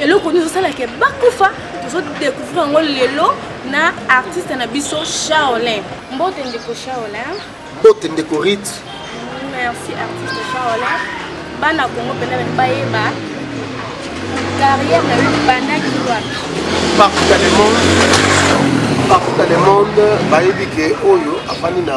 eloko nini ezosala ke bakufa tozodécouvrir yango lelo na artiste na biso charolin mbote ndeko charolin mbote ndeko rite merci artiste charolin bana kongo mpenza bani bayeba carrière na yo ebandaki wapi partout dans le monde partout dans le monde bayebi ke oyo afandi na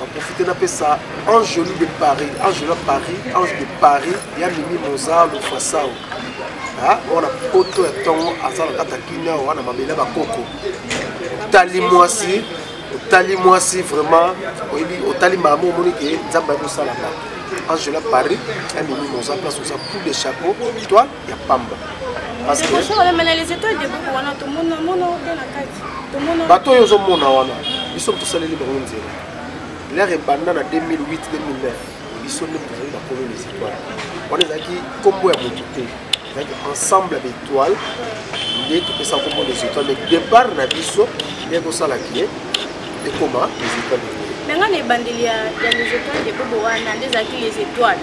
na profite napesa angeli de paris angela paris ange de paris ya mimi moza lofasao wana poto ya ntongo aza na kata kimia wana mabele ya bakoko otali mwasi otali mwasi vraiment oyebi otali mama omoni ke nzambe ayebosala bato angela paris ya mimi moza place oza poule de chapeau toi ya pamba bato oyo ozomona wana biso tosaleli bango nzela lere ebanda na 2008 2009 biso nde tozali bakolo les étoiles wana ezalaki nkombo ya motu te ezalaki ensemble ya baetoile nde topesa nkombo les étoiles mais départ na biso nde kosala kie ekoma les étoiles mais ngai na ebandeli ya les étoiles de bobo wana nde ezalaki les étoiles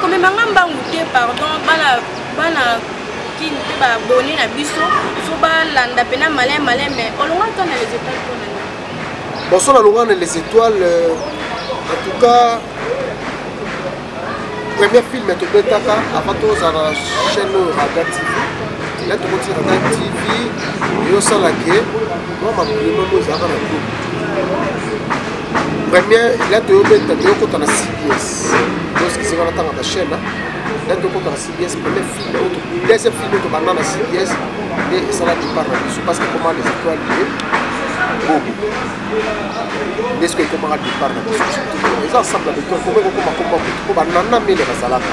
komema nga mbangu te pardon bana bana kini mpe baabone na biso fo balanda mpena malin malin mais olonga to na les étoiles mpo na baso nalonga na les étoiles euh, en tout cas premier film tobetaka avant tozala na chaîne oyo raga tv la tokoti raga tv eyosalake mwa makolema oyo ezalaka na groupe premier la toyobeta toyokota na cbs tosikisaka na tanga bachaine la tokota na cbs premier film oyo deuxième film oyo tobanda na cbs nde esala départ na biso parce que comment les étoiles ye bobo nde soki ekomaka départ na biso eza ensemble na beto ekoma ekokoma koma kutu mpo banana mele bazalaka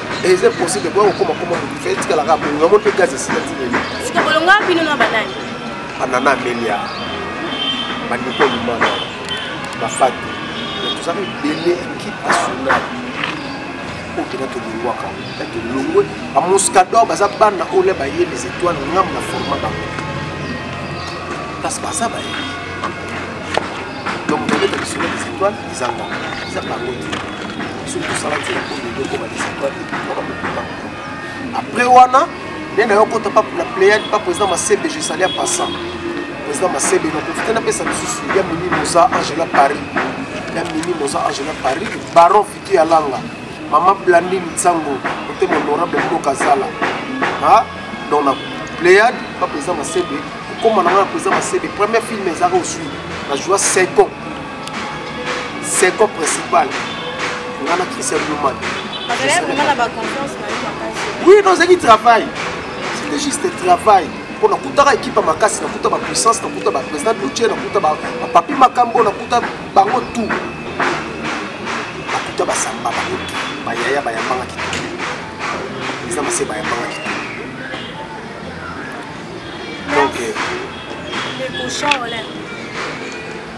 eza possible koya kokoma koma motu fe etikala kaka bongo yango mpe gaz esila tileli siko bolonga bino na banani banana amelia bandeko limana bafati tozaka ebele ekipe nationale oyo mpena tolongwaka na tolongwe bamuscador baza bana oyo baye les étoiles ngambo na forma bango kasi baza baye donc tobeta lisolo les étoiles ezanga eza bango te soki tosala nzela oyo lelo ekoma desitoile ekoma kokuba après wana nde na yo kota pa na pléiade pa président masebe je sali ya passant président masebe naprofite napesa lisusu ya mimi moza angela paris ya mimi moza angela paris baron fiti ya langa mama blandine nsango motema honorable mboka zala donc na pléiade pa président masebe kokoma na nga na président masebe premier film ezaka osui na joa 5 ans second principal nga na christian luman oui nozaki travail c'était juste travail mpo nakutaka ekipe ya makasi nakuta bapuissance nakuta baprésident dutie nakuta bapapi makambo nakuta bango tout nakuta basamba bango tout bayaya bayambangaki tout eza mase bayambangaki tout donc euh,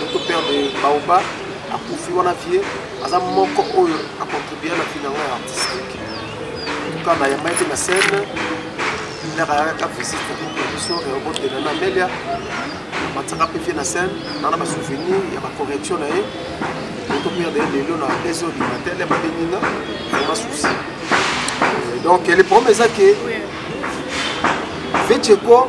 Notre père de Baoba akufi wana vie aza moko oyo acontribue na vie na ngai artistique tuka na yamba ete na scène ndaka ayaka visite na biso reobotela na melia batisaka mpe vie na scène na na basouvenir ya bacorrection na ye notre père de lelo na deux heures du matin le babengi nga vraiment souci donc le problème eza ke vecheko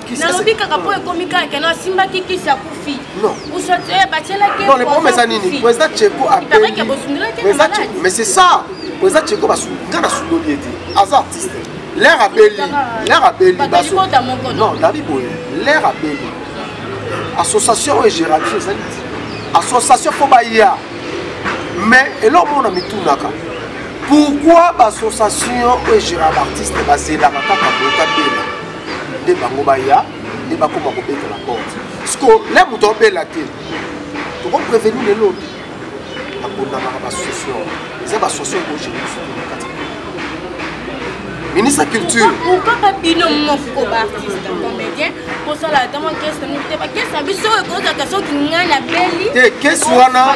nalobi kaka mpo ekomi kaka keno asimbaki kisi akufi eh, batyelakiomesa nini président cheko apelike bosundelaki mais c'est ça président cheko nga nasundoli ye te aza artiste l'air abeli l'air abeli non dabi boye l'air abeli association oyo egéralise ezali association mpo baya mais eloko moko na mitunaka pourquoi baassociation oyo egéra baartiste bazelaka kaka boka bela nde bango baya nde bakoma kobeta na porte siko le moto abela te tokopreveni lelo te bakondamaka basosio eza basosio ekogere biso te na kati ministre ya culture kaka bino moko baartiste comédien kosala ata mwa kese moko te bakese na biso oyo ekozaka soki ngai nabeli te kesi wana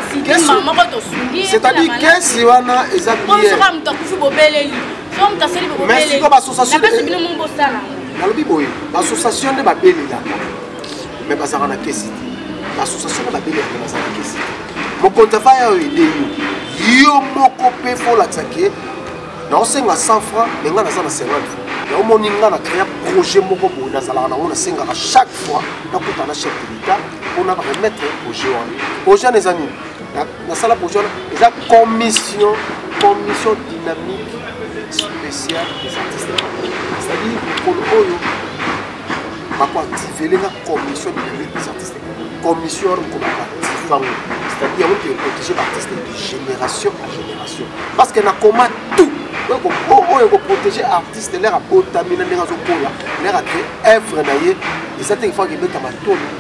moko tosungi c'est-à-dire kesi wana eza bisoka moto akufi bobeleli mais siko bassociation nalobi boye bassociation nde babelelaka mais bazalaka na kesi te bassociation nde babelelaka bazala na kesi te mokonzi afa yayo ede yo yo moko mpe folakisa ke naosenga 100 franc me ngai naza na 50 franc naomoni ngai na créa projet moko boye nazalaka nango nasengaka chaque fois nakutana chef de l'état mpona baremettre projet wana projet wana eza nini nasala projet wana eza commission commission dynamique spéciale des artistes c'est-à-dire mokolo oyo bakoactive elenga commission dynamique des artistes commission wana mokolo bakoactive yango c'est-à-dire yango mpe eprotege baartiste de génération à génération parce que nakoma tout oyo ekoprotege artiste lere abotami na ndenge azokola lere ake œuvre na ye eza te ifo akebetama tolo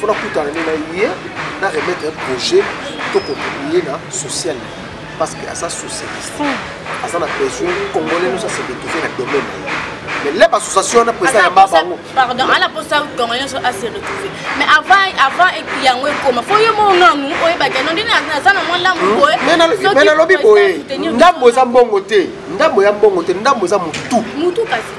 fo nakutana nde na ye na remettre un projet to contribuer na social parce que aza socialiste hmm. aza na besoin congolais nyonso ase retrouve na domaine na ye mais leba association wana président yamba bango pardon ala posa tongo nyonso ase retrouve mais avant avant yango ekoma fo yo mo nanu oyebaki yango nde naza na mwa ndambo hmm. boye mais nalobi boye ndambo eza mbongo te ndambo ya mbongo te ndambo eza motu motu kasi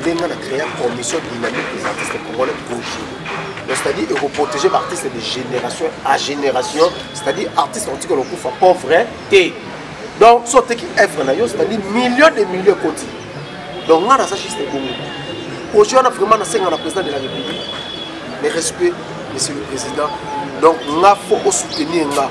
nde nga na créa commission dynamique des artistes congolais projet c'est-à-dire ekoprotege baartiste de génération à génération c'est-à-dire artiste otikala okufa pauvre te donc so oteki evre na yo c'est-à-dire million de million ekoti donc nga naza juste ebongo projet wana vraiment nasenga na président de la république mes respect monsieur le président donc nga fo osoutenir nga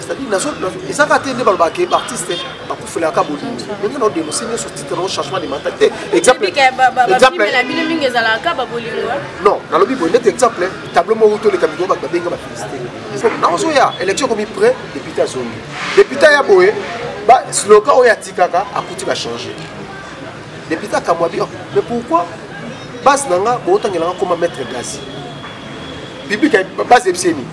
c'est-à-dire nazo eza kaka te nde balobaka ke baartiste bakufelaka ka bolingo ndenge nao denonse nyonso titre nao changement de mental te examplebino mingi ezalaka ka babolingo non nalobi boye ndete exemple tableau moko toleka mikoo bato babenga bafelisite naozoya élection ekomi près député azongi député ya boye slogan oyo atikaka akuti bachange député akamwa bi mais pourquoi base na nga bootangelanga koma maître gasi biblike base ebiseni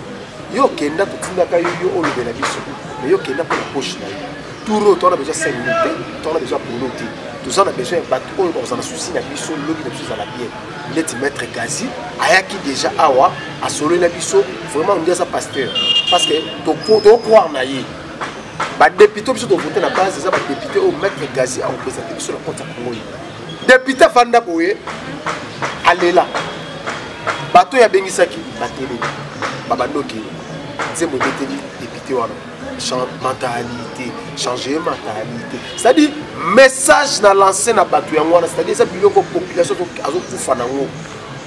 yo okenda totindaka yo yo olobela biso me yo okenda mpo na poche na yo tour oyo towana besoin cinq minute te towana besoin ya polo te toza na besoin ya bato oyo bakoza na susi na biso lobi na biso ezala bien neti maître gazi ayaki déjà awa asololi na biso vraiment ondi aza pasteur parce que tokroire na ye badepute biso tovote na base eza badepute oyo maître gazi akopresente biso na compte ya congo depute afanda boye alela bato oyo abengisaki bateleli babandoki nzembo ebeteli depute wana mentalité changer mentalité c'est-à-dire message na lance na bato yango wana c'est-à-dire eza biloko population azokufa nango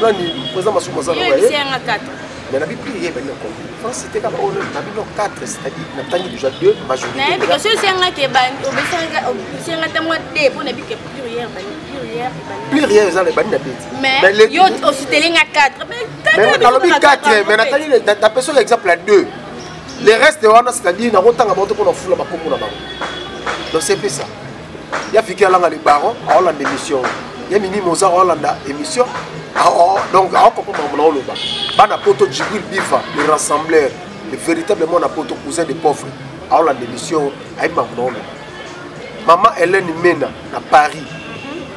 nani eza masumu aza yanga 4 mais nabi prix ye bani ko france te kaka oyo nabi no 4 c'est-à-dire na tangi déjà 2 majorité na yebi kasi osi yanga ke ba obesanga osi yanga tango te po nabi ke prix ye bani plus rien eza na ebandi na beti yo osuteli nga 4 nalobi 4 mais natali napesi oyo exemple ya 2 le reste wana c'est-à-dire nakotanga bango te mpo na fula bakombo na bango donc c'est pe ça ya fiki alanga le baron aolanda émission ya mimi moza aolanda émission ah, oh, donc aokompre makambo na oloba bana poto jibril bifa le rassembleur le véritable mwana poto cousin de pauvre aolanda émission ayebi makambo na oloba mama helene mena na paris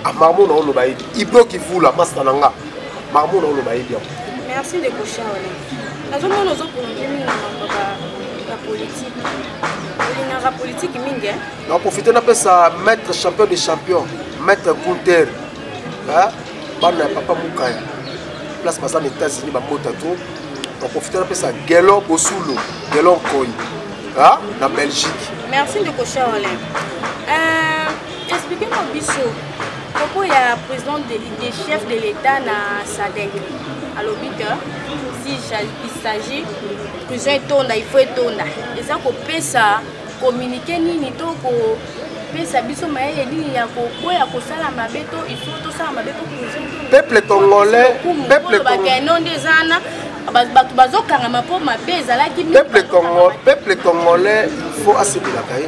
makambo na oloba yebi ibro kivula masta na nga makambo na oloba yebi yango merci ndeko charle nazomona ozoprolonge mingi na makambo ya politike olingaka politike mingi naprofite napesa maître champion de champion maître gunter bana ya papa mukaya place baza na états-unis bamota to naprofite napesa gelon bosulo gelon nkoi na belgique merci ndeko charlin euh, explique moi biso propos ya président de, de chef de l'état na sadec alobi te si il s'agit prison etonda il faut etonda eza kopesa Communique nini to ko pesa biso mayele nini ya koboya kosala mabe to il faut tosala mabe po peuple congolais peuple congolais non nde eza wana bato bazokangama mpo mabe ezalaki peuple congolais il faut asepelaka ye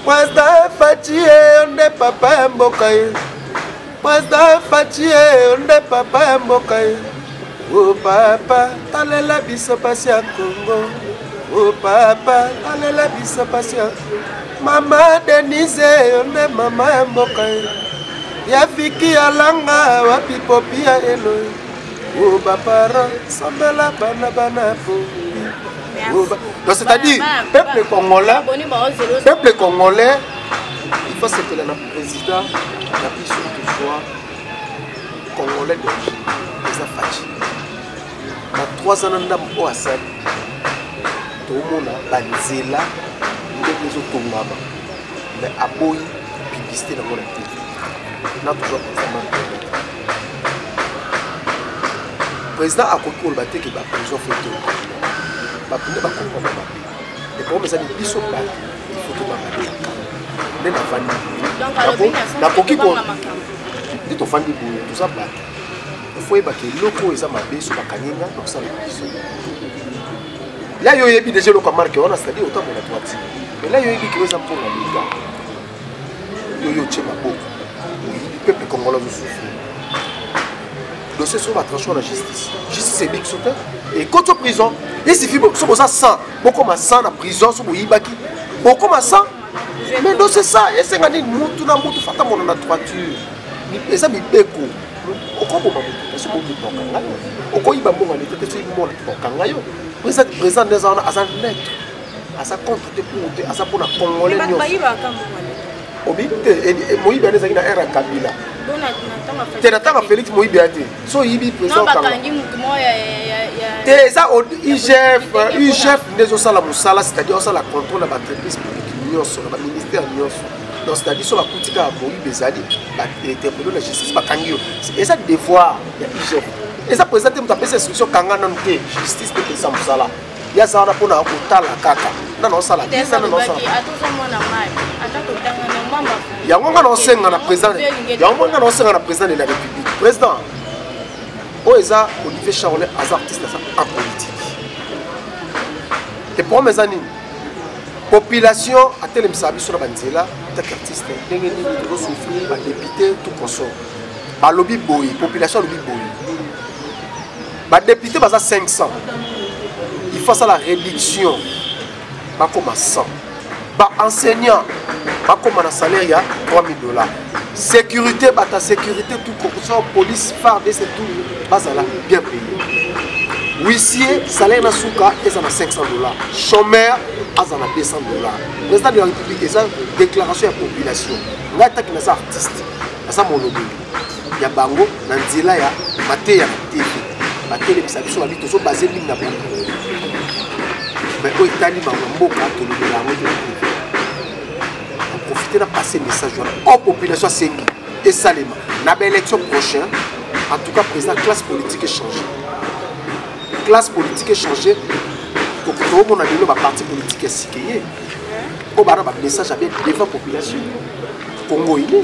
Wasta Fatshie, on n'est pas un bocaille. President Fatshi eh, nde papa ya mboka ye. Eh. O oh, papa, talela biso pasi ya Congo. O oh, papa, talela biso pasi ya Mama Denise, yo eh, nde mama ya mboka ye. Ya fiki ya langa, wapi popi ya elo. O bapara, sambela bana bana po. Donc c'est-à-dire, peuple congolais, peuple congolais, il faut se tenir President na biso tozwa congolais d'origine eza faci na 3 ans na ndambo oyo asali tomona banzela ndenge ezotongama me aboyi publicité nango na tv na tozwa kosama président akoki koloba te ke baprison fo te bato nde bakomprendre mabe le problème ezali biso bato ifo tobanga nde nafandi nakoki nde tofandi boye toza bato ifo oyebaka eloko oyo eza mabe so bakanyenga nakosala biso la yo oyebi deja eloko ya marke wana cetadire otambola twati mais la yo oyebi kilo eza mpona leta yo yo otie maboko peuple congolais mosusu dossier sur la tranchon na justice justice ebi biso te ekoti prison esifi so boza 100 bokoma 100 na prison so boyibaki bokoma 100 mais dossier sa esenga nini mutu na mutu fata mono na droiture eza mibeko okoboma moto esi okoboma ngai okoyiba mbongo na leta te soki mbongo na leta okanga yo président nde aza wana aza neutre aza contre te pour te aza mpona congolais obi te eh, eh, moyibi wana ezalaki na aire ya kabila te na ntango félix moyibi ya te so oyibi te eza igf igf nde ezosala mosala c'est-à-dire osala contrôle na baentreprise publique nyonso na baministère nyonso donc c'est-à-dire so bakuti kaka moyibi ezali bainterpelo na justice bakangi yo eza devoir ya igf eza mpenza te moto apesa instruction kanga nanu te justice te mpesa mosala ye aza wana mpona kotala kaka nga naosala biza na naosala yango nga naosenga na président yango nga naosenga na président de la république président oyo eza olivier charolin aza artiste aza en politique te problème eza nini population atelemisaka biso na banzela take artiste ndenge nini tozosouffrir badepute tout consort balobi boye population alobi boye badepute baza 500 il faut asala réduction bakoma 100 baenseignant bakoma na salaire ya 3000 dollars sécurité bata sécurité tout kokosa police farde se tout bazala bien payé huissier salaire na suka eza na 500 dollars chômeur aza na 200 dollars président de la république eza déclaration ya population ngai taki naza artiste naza molobeli ya bango na nzela ya mateya na tv batelemisa biso babi tozobase mingi na bango me oyo etali bango mboka tolobela yango te profite na passe message wana o population asengi esalema na baélection prochain en tout cas président classe politique échange classe politique échange tokomona lelo baparti politique ya sike ye oyo bana bamessage ya bien devant population congo ile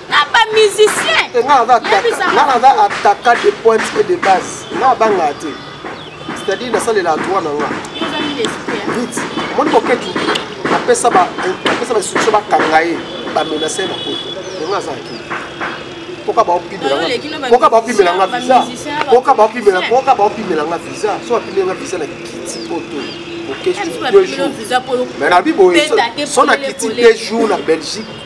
na ba musicien eh, nga naza ataka de pointe et de base nga banga te c'est-à-dire nasalela droit na nga vite omoni boketu apesa bainstitution bakanga ye bamenase na poto yango aza akei poka baopimelanga baopimela nga visa poka baopimela poka baopimela nga visa so bapimela nga visa na kiti poto mais nabi boye so na kiti deux jours na belgique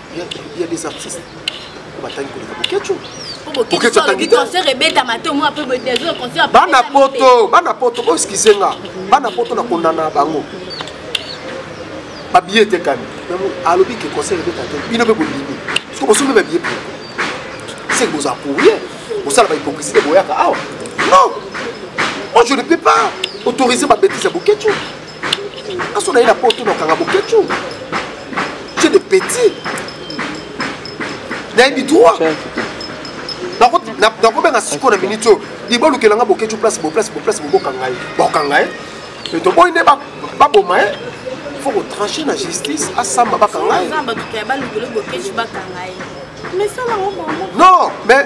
il y a des artistes batangi koleka boketshu boketshu atangi te concert ebetama te omoi mpe bodezo concert bana poto bana poto boeskize nga bana poto na kondana bango babiye etekami alobi ke concert ebeta te bino mpe bolimi soki bosombi babiye mpe seke boza courrier bosala bahypocrisie te boyaka awa non moi je ne peux pas autoriser babetise ya boketshu aso na ye na poto nakanga boketshu ce de petit nayebi droit nakobenga siko na minute oyo libolukela nga boketshu place boplace boplace bobokanga ye bakanga ye me toboyi nde baboma ye faut kotranche na justice asamba bakanga ye non mais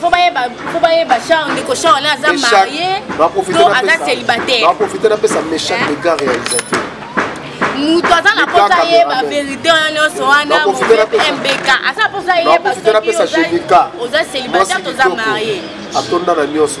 faut bayeba charle ndeko charle aza marie to aza célibataire baprofite napesa méchant dégard réalisateur moto aza na mposa ayeba verité wana nyonso wana mbk aza na mposa ayeba soki oza célibataire toza marie atonda na nyonso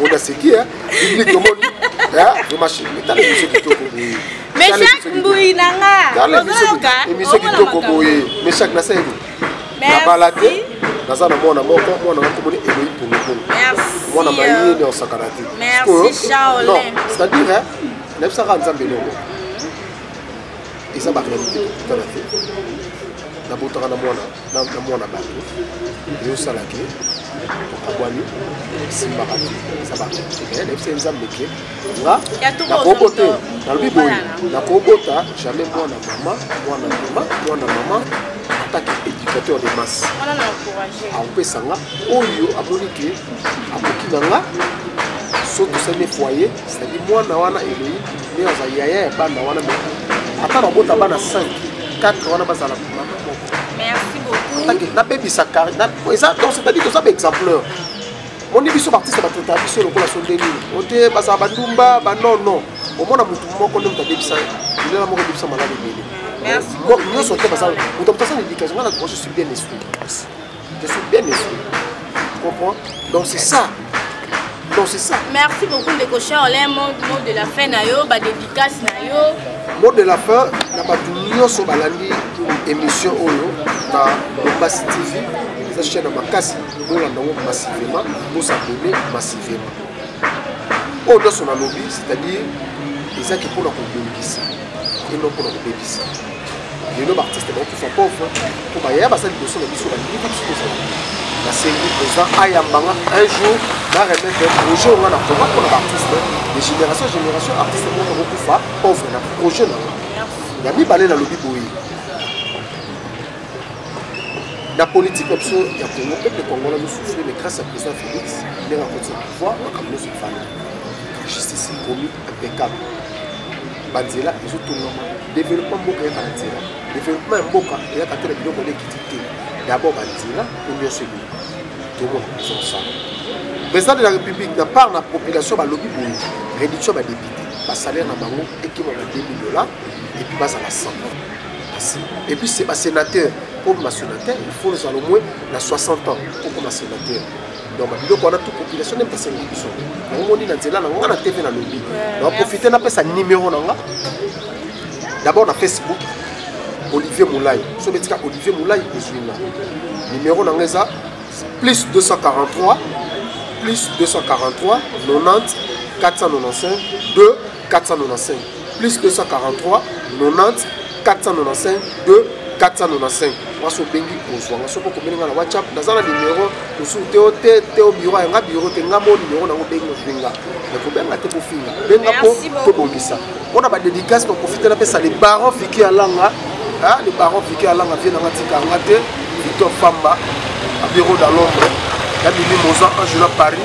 mona seki public omoni etala biso kitoko boye meshak mbuyi na nga emission kitoko boye meshak nasayebi nabala te naza na mwana moko mwana na komoni eloi pongopong mwana maye ne osakana te sikoyo non c'est-à-dire nayebisaka nzambe eloko eza baréalité tokutana te nabotaka na mwana na mwana bato ezosala ke tokabwani esimbaka te eza baee nayebisa nzambe ke nga nakobo te nalobi boye nakobota jamais mwana mama mwana mama mwana mama atake éducateur de masse akopesa nga oyo amoni ke akoki na nga so tosali foyer c'est-à-dire mwana wana elei nde aza yaya ya bana wana me ata babota bana 5 4 wana bazala nabebisa eza donc c'est-à-dire toza baexempleur oni biso baartiste batota biso lokola so nde nini ote bazala bandumba banon non omona motu moko nde moto abebisa lilela moko ebebisa malali ebele nyonso te baza moto moto aza na éducation nga na je suis bien esprit Je suis bien ici. Tu comprends Donc c'est ça. Donc c'est ça. Merci beaucoup Ndeko Charles, un mot, mot de la fin na yo, ba dédicace na yo. Mot de la fin na bato nyonso balandi émission oyo na Bombasi TV. Eza chaîne ya makasi, bolanda yango massivement, bosabone massivement. Oyo nyonso nalobi, c'est-à-dire ezaki mpo na kobongisa et non mpo na kobebisa. lelo baartiste baokufa pauvre mpo bayaya baza liboso na biso balingi biso tozala nasengi président ayambanga un jour na remettre projet onga na koma mpo na baartiste de génération génération artiste moko bakokufa pauvre na projet na nga ya mibale nalobi boye na politike na biso ya congo peuple congola azosufri mais grâce ya président félix ndenge akotisa pouvoir makambo nyonso efana justice ekomi impeccable banzela ezotongama développement mboka eyaka na nzela développement ya mboka eyaka te na biloko elekiti te d'abord banzela po nyonso ebima tomona ezosala président de la république na part na population balobi boye réduction ya badepute basalaire na bango ekima na 2000 dollar epuis bazala 100 epuis basénateur po basénateur il faut ozala omoi na 60 ans okoma sénateur donc babiloko wana tu population nde mpesa elingi biso omoni na nzela na nga na tv na lobi naprofite napesa nimero na nga d'abord na facebook olivier molai so betika olivier molai ozwi nga nimero na nga eza plus 243 plus 243 90 495 2 495 plus 243 90 495 2 495 mwasi obengi kozwa nga soki okomeli nga na whatsapp naza na numero mosusu te te te o biro yanga biro te nga mo numero nango bengi ofinga nakobenga te kofinga benga mpo tobongisa mpo na badédicace baprofite napesa le baron fiki ya langa le baron fiki ya langa vie nanga tika yanga te victor famba na bureau da londres na bimi moza angela paris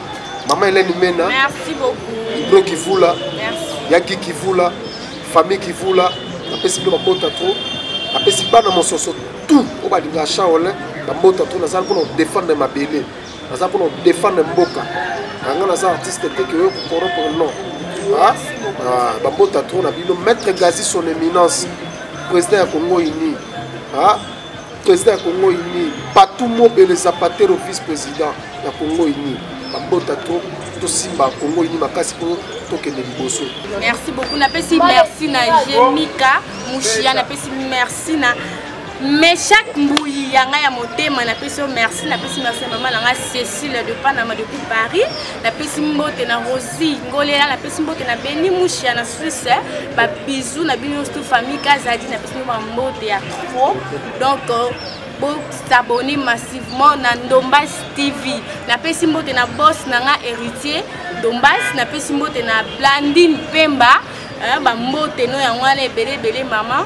Maman Hélène Mena. Merci beaucoup. Ibro Kivula. Merci. Yaki Kivula. Famille Kivula. Napesi bino mabota trop. Napesi bana mososo tout oyo balingaka Shaolin bamota trop nazali mpona kodefendre mabele naza mpona kodefendre mboka yanga naza artiste te ke oyo kokoropo non ah, ah, bamota trop na bino maître gazi son éminence président ya congo uni ah, président ya congo uni patou mobele zapatero vice président ya congo uni babota to tosimba congo uni makasi mpo tokende liboso merci beaucoup napesi merci na jemika mushia napesi merci na mais chaque mbuyi ya ngai ya motema napesi yo merci napesi merci ya mama na ngai cécile de panama depuis paris napesi mbote na rose Merci Ngolela na pesi mbote na Beni Mushia na Suisse eh. ba bisous na bino tout famille Kazadi na pesi ba mbote ya trop donc euh, bo s'abonner massivement na Ndombas TV na pesi mbote na boss na nga héritier Ndombas na pesi mbote na Blandine Pemba eh, ba mbote no yango wana ebele ebele maman